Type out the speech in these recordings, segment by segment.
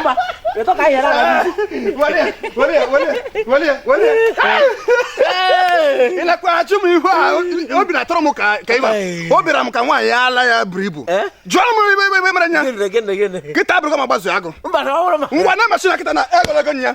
Mba, ịtọ ka ihe na-aga n'isi. ị na-akwaghachi m ihe obi na-atọrọ m ka ka ịba o bịara m ka nwaanyị ala ya buru ibu Eh? jụọ m ive ive ive mere nya Gịnị, gịnị, gịnị? kịta abụrụgo ma gbazu agụ Mba, na ọ bụrụ ma- ngwa na machine kịta na egologo nya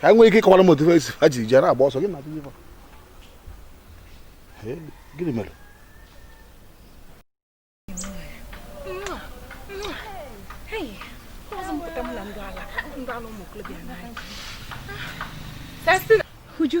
ka anyị nwere ike ịkọwara m otu esi ha ji jere agba ọsọ gị na atụnye gịnị mere Uju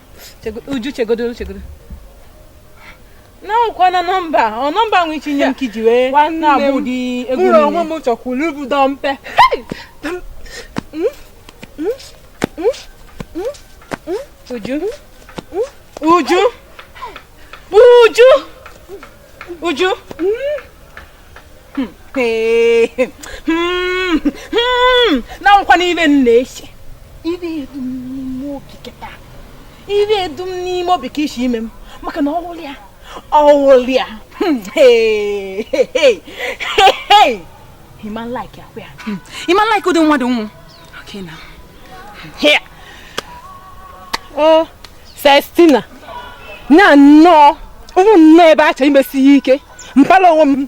Uju chegodo chegodo na ọ kwa na nọmba ọ nọmba nwe iche inye m ka iji wee na-abụ ụdị egwu mụrụ onwe m chọkwuru ibu dọmpe Uju Uju Uju Uju hmm? Hmm. Hmm. na nụkwa n'ive m na-eche ive dụ m n'ime obi kịta ive dụ m n'ime obi ka o si eme m maka na ọ wụlụ ya ọ wụlụ ya ị ma like ya kwea ị ma like ụdị mmadụ m wụ okay now here oh Celestina na nnọọ ụmụ nnọọ ebe a chọrọ imesi ya ike mpala onwe m